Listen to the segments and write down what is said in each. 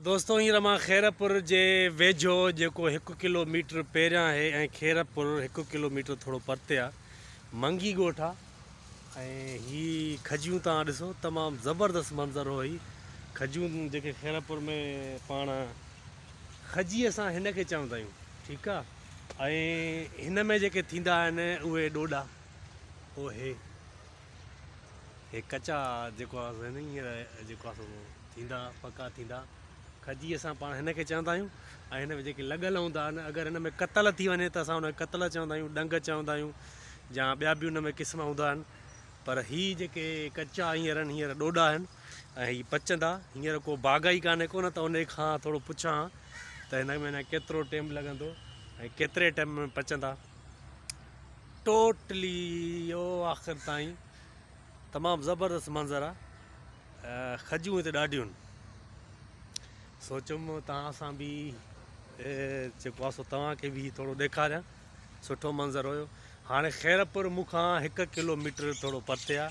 دوستو هينئر مان خيرپور جي ويجهو جيڪو هڪ ڪلو ميٽر پهريان آهي ۽ خيرپور هڪ ڪلو ميٽر ٿورو پرتي آ منگي ڳوٺ آ ۽ هي کجيون تان ڏسو تمام زبردست منظر هو هي کجيون جيڪي خيرپور ۾ پاڻ کجي اسان هن کي چوندا آهيون ٺيڪ آ ۽ هن ۾ جيڪي ٿيندا آهن اهي ڏوڏا هو هي هي ڪچا جيڪو آ سو هن هينئر جيڪو آ سو ٿيندا پڪا ٿيندا کجي اسان پاڻ هن کي چوندا آهيون ۽ هن ۾ جيڪي لڳل هوندا آهن اگر هن ۾ قتل ٿي وڃي ته اسان هن کي قتل چوندا آهيون ڏنگ چوندا آهيون يا ٻيا به ان ۾ قسم هوندا آهن پر هي جيڪي ڪچا هينئر آهن هينئر ڏوڏا آهن ۽ هي پچندا هينئر کو باغ ئي ڪانهي ڪو نه ته ان کان ٿورو پڇان ته هن ۾ اڃا ڪيترو ٽيم لڳندو ۽ ڪيتري ٽيم ۾ پچندا ٽوٽلي اهو آخر تائين تمام زبردست منظر آ کجون هتي ڏاڍيون سوچيم توهان سان به جيڪو آ سو توهان کي به ٿورو ڏيکاريان سٺو منظر هيو هاڻي خيرپور مونکان هڪ ڪلوميٽر ٿورو پرتي آ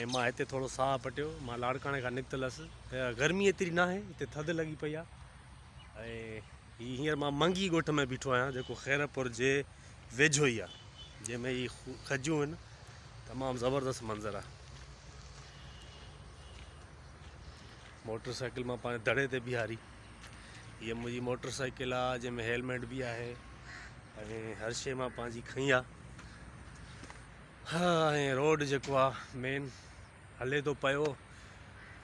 ۽ مان هتي ٿورو ساهه پٽيو مان لاڙڪاڻي کان نڪتل هيس گرمي ايتري ناهي هتي ٿڌ لڳي پئي آ ۽ هي هينئر مان منگي ڳوٺ ۾ بيٺو آهيان جيڪو خيرپور جي ويجهو ئي آهي جنهن ۾ هي کجيون آهن تمام زبردست منظر آهي موٽر سائيڪل مان پنهنجي دڙي تي بيهاري هي منهنجي موٽر سائيڪل آهي جنهن ۾ هيلميٽ به آهي ۽ هر شيء مان پنهنجي کئي آهي ها ۽ روڊ جيڪو آهي مين هلي ٿو پيو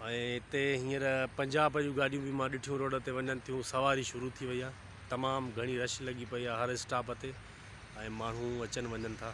۽ هتي هينئر پنجاب جون گاڏيون به مان ڏٺيون روڊ تي وڃن ٿيون سواري شروع ٿي وئي آهي تمام گهڻي رش لڳي پئي آهي هر اسٽاپ تي ۽ ماڻهو اچن وڃن ٿا.